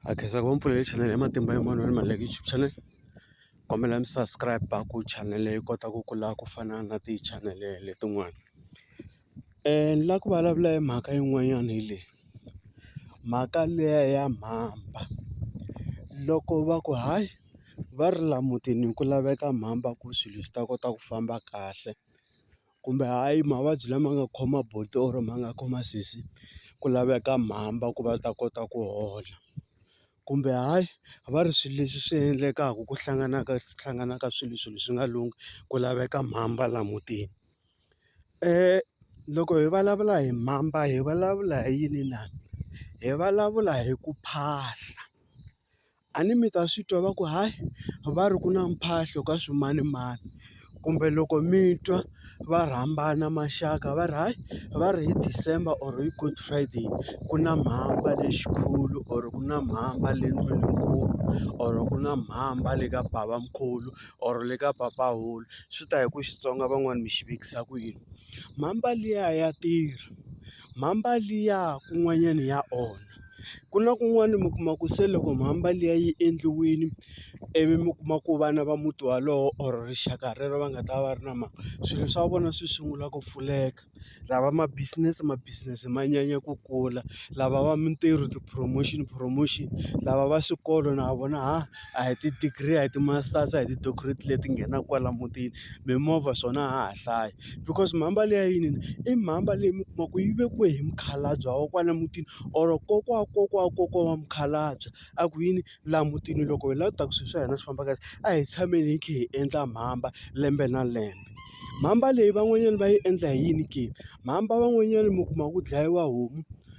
Ha khensa ku va mi pfulele chanele ya Matimba ya Mavonelo ma like YouTube channel kombela mi subscribe ku chanele yi kota ku kula ku fana na ti-channel letin'wana ni lava ku vulavula hi mhaka yin'wanyana hi leyi mhaka liya ya mhamba loko va ku hayi va ri la mutini ku laveka mhamba ku swilo swi ta kota ku famba kahle. kumbe hayi mavabyi lama nga khoma buti or ma nga khoma sesi ku laveka mhamba ku va ta kota ku hola kumbe hayi a va ri swilo leswi swi endlekaka ku hlanganaka hlanganaka swilo swilo swi nga lunghi ku laveka mhamba la mutini loko hi vulavula hi mhamba hi vulavula hi yini na hi vulavula hi ku phahla. a ni mi ta swi twa va ku hayi va ri ku na mphahlo ka swimanimani kumbe loko mi twa va rhambana maxaka va ri hayi va ri hi December or hi good friday ku na mhamba lexikulu or ku na mhamba le ndlwininkulu or ku na mhamba le ka babamkhulu or le ka papahulu swi ta hi ku Xitsonga van'wani mi xi vekisa ku yini mhamba liya ya tirha. mhamba liya kun'wanyana ya onha. Ku na kun'wani mi kuma ku se loko mhamba liya yi endliwile ivi mi kuma ku vana va muti wolowo or rixaka rero va nga ta va ri na mhaka swilo swa vona swi sungula ku pfuleka lava ma business ma business ma nyanya ku kula lava va mintirho ti-promotion promotion lava va swikolo na vona ha. a hi ti-degree a hi ti-masters a hi ti-doctorate leti nghenaka kwala mutini mimovha swona a ha ha hlayi because mhamba leyi ya yini i mhamba leyi mi kuma ku yi vekiwa hi mukhalabye wa kwala mutini or kokwa wa kokwa wa kokwa wa mukhalabye a ku yini laha mutini loko hi lava ku ta ku swilo swa hina swi famba kahle a hi tshameni hi kha hi endla mhamba lembe na lembe mhamba leyi van'wanyana va yi endla hi yini ke mhamba van'wanyana mi kuma ku dlayiwa homu.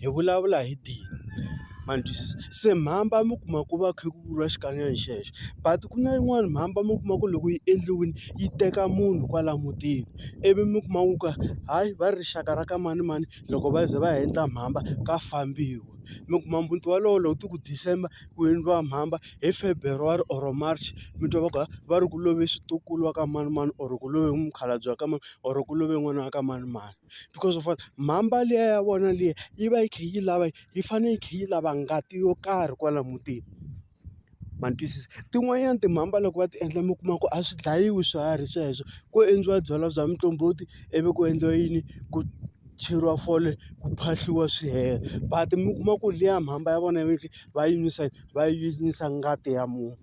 hi vulavula hi dini ma ni twisisa se mhamba mi kuma ku va kha ku vuriwa xikanyakanya xexo but ku na yin'wani mhamba mi kuma ku loko yi endliwile yi teka munhu kwala mutini ivi mi kuma ku ka hayi va ri rixaka ra ka manimani loko va ze va heta mhamba ka fambiwa mi kuma muti wolowo loko ti ku December ku endliwa mhamba hi February or March mi twa va ku va ri ku love switukulu wa ka manimani or ku love mukhalabye wa ka mani or ku love n'wana wa ka manimani. because of mhamba liya ya vona liya yi va yi kha yi lava yi fanele yi kha yi lava ngati yo karhi kwala mutini ma ni twisisa tin'wanyana timhamba loko va ti endla mi kuma ku a swi dlayiwi swiharhi sweswo ko endliwa byalwa bya muqombhoti ivi ku endliwa yini ku cheriwa fole ku phahliwa swi hela but mi kuma ku liya mhamba ya vona va yi nwisa va yi nwisa ngati ya munhu.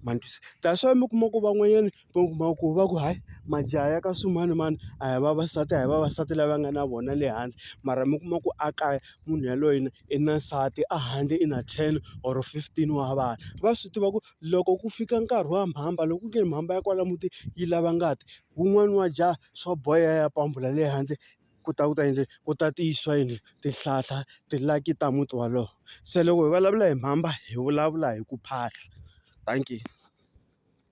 ma ni twisa that's why mi kuma ku van'wanyana mi kuma ku va ku hayi majaha ya ka swimanimani a hi vavasati a hi vavasati lava nga na vona le hansi mara mi kuma ku a kaya munhu yaloye i na nsati a handle i na ten or fifteen wa vana va swi tiva ku loko ku fika nkarhi wa mhamba loko ku ri ke ni mhamba ya kwala mutini yi lava ngati wun'wani wa jaha swa boha a ya pambula le handle. ku ta ku ta yini ku ta tiyisiwa yini tihlahla ti-lucky ta muti wolowo se loko hi vulavula hi mhamba hi vulavula hi ku phahla dankie.